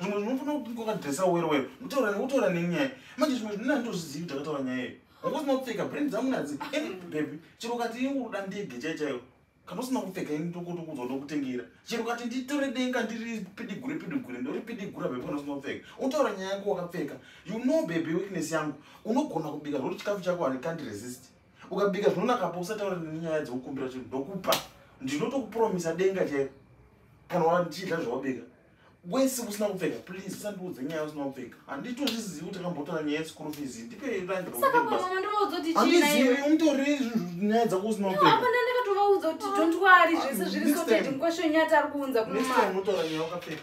zvimwe zvinofana kuti wakadresa wero wero kutaura nekutaura nenyaya manje zvimwe zvinena ndozvizivi kuti akataura nyaya iyo wanga usina kupfeka brand dzangu nadzi any baby chero kati ingu kuda ndege chai chaiyo kana usina kupfeka ini tokuti kudzwa ndokutengera chero kati nditore denga ndiri pidigure pidigure ndori pidigura baby kana usina kupfeka utaura nyaya yako wakapfeka you know baby weakness yangu unogona kubika zvokuti chikafu chako handikandi resist ukabika zvinonakapa usataura nenyaya dzekukumbira chinhu ndokupa ndinotokupromisa denga chaiyo kana wachidla zvawabika wese usina kupfeka please usandiudze nyaya usina kupfeka handitozvizivi kuti akambotora nyaya yeschool fees ndipeandizivi unotori nyaya dzako usina kupfekaaunotora nyaya ukapfeka